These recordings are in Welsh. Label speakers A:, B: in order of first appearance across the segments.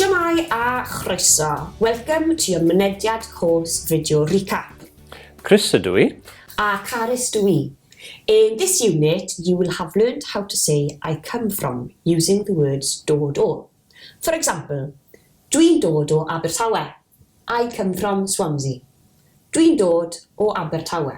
A: Shwmae a chroeso, welcome to your mynediad course video recap. Chris ydw i. A Carys dw i. In this unit, you will have learned how to say I come from using the words dod o. For example, Dwi'n dod o Abertawe. I come from Swansea. Dwi'n dod o Abertawe.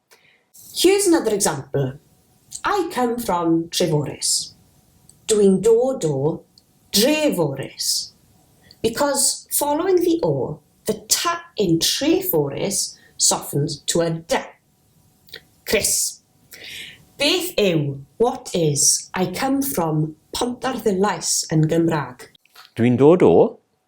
A: Here's another example, I come from Treforys, dw i'n dod o Dreforys. Because following the o, the t in Treforys softens to a d. Chris, Beth yw, what is, I come from Pontarddulais yn Gymraeg? Dw i'n dod o,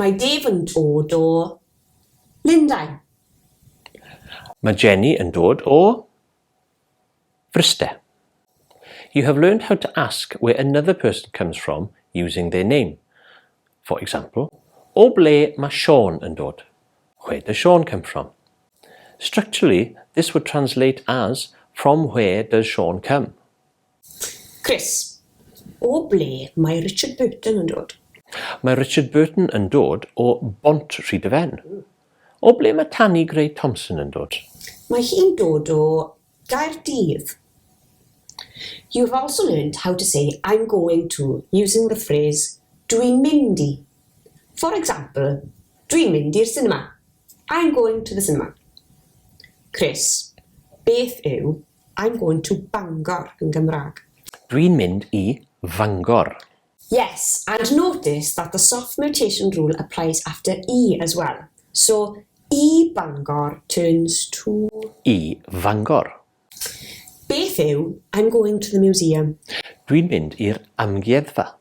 A: Mae Dave yn dod o Lundain. Mae Jenny yn dod o Fryste. You have learned how to ask where another person comes from using their name. For example, O ble mae Siôn yn dod? Where does Siôn come from? Structurally, this would translate as From where does Siôn come? Chris, O ble mae Richard Burton yn dod? Mae Richard Burton yn dod o Bont Rhyd y Fen. O ble mae Tani Grey Thompson yn dod? Mae hi'n dod o Gaerdydd. You've also learnt how to say I'm going to using the phrase Dwi'n mynd i. For example, Dwi'n mynd i'r sinema. I'm going to the cinema. Chris, Beth yw I'm going to Bangor yn Gymraeg. Dwi'n mynd i Fangor. Yes, and notice that the soft mutation rule applies after i as well. So, i Bangor turns to. I Fangor. Beth yw I'm going to the museum? Dwi'n mynd i'r amgueddfa.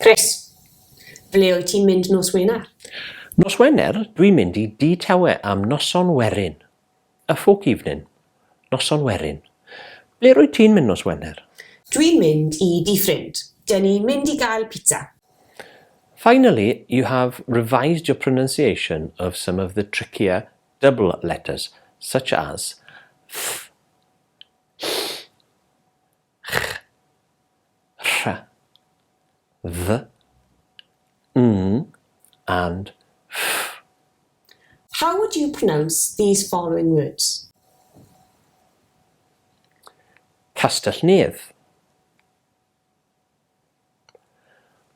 A: Chris, Ble wyt ti'n mynd nos Wener? Nos Wener, dwi'n mynd i Dŷ Tawe am noson werin. A folk evening. Noson werin. Ble rwyt ti'n mynd nos Wener? Dwi'n mynd i dŷ ffrind. Dyn ni'n mynd i gael pizza. Finally, you have revised your pronunciation of some of the trickier double letters, such as th, ll, Ch. Rh. Dd. Ng. And. Ff. How would you pronounce these following words? Castell-nedd.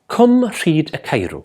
A: Cwm Rhyd y Caerw.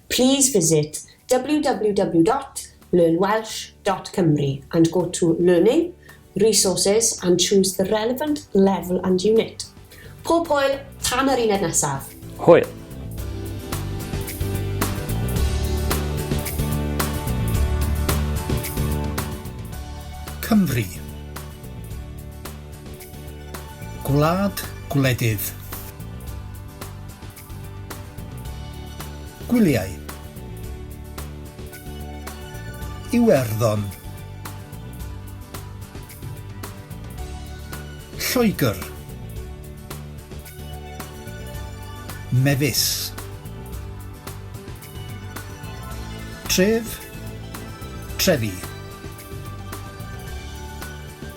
A: Please visit www dot learn welsh dot cymru and go to Learning, Resources and choose the relevant level and unit. Pob hwyl tan yr uned nesaf! Hwyl! Cymru. Gwlad gwledydd. Gwyliau. Iwerddon. Lloegr. Mefus. Tref. Trefi.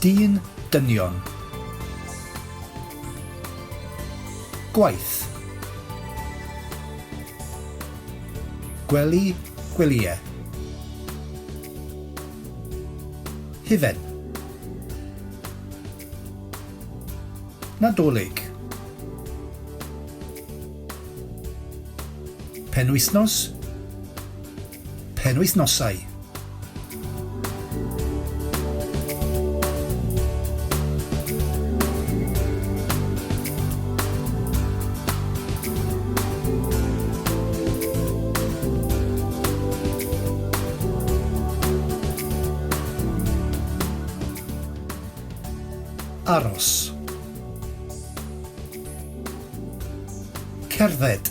A: Dyn, dynion. Gwaith. Gwely, gwelyau. Hufen. Nadolig. Penwythnos. penwythnosau. Aros. Cerdded.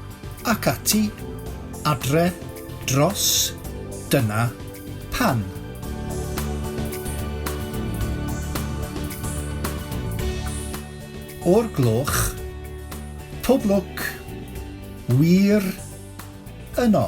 A: ac ati, adre, dros, dyna, pan. o'r gloch, pob lwc, wir, yno.